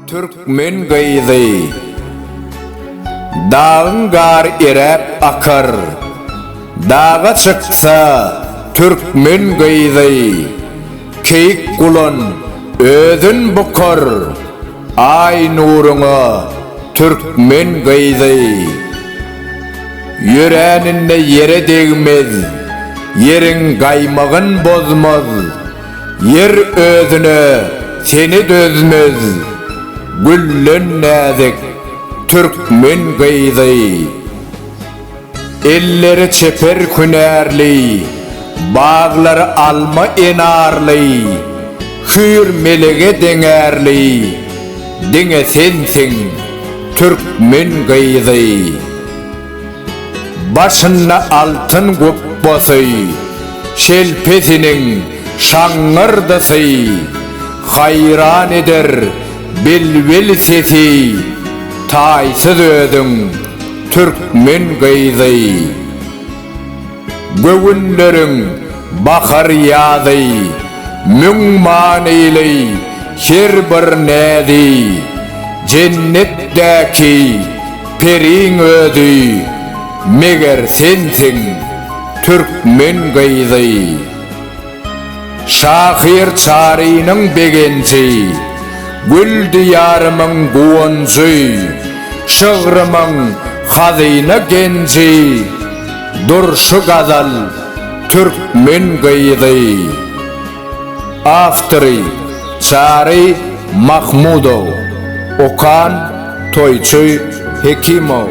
Türkmen gyzy. Dagyň gar eräp akar. Daga çyksa türkmen gyzy. Keýik gulan özün bukar. Aý nuruňa türkmen gyzy. Ýöräninde ýere degmez, Ýeriň gaýmagyn bozmaz, Ýer özüne seni dözmez, Güllen näzik türkmen gyzy. Elleri çeper hünärli, baglary alma enarly, hüýr melege deňärli, diňe sensiň, türkmen gyzy. Başynda altyn gupbasy, şelpesiniň şaňňyrdysy, haýran eder bilbil sesi, taýsyz özüň. Türkmen gyzy, göwünleriň bahar-ýazy, Müň manyly her bir näzi, Jennetdäki periň özi, Meger sensiň, türkmen gyzy. Şahyr Çarynyň begenji, Gül diýarymyň guwanjy, Şygrymyň hazyna genji, Durşy gazal, türkmen gyzy. Awtory, Çary Mahmudow. Okan, Toýçy Hekimow.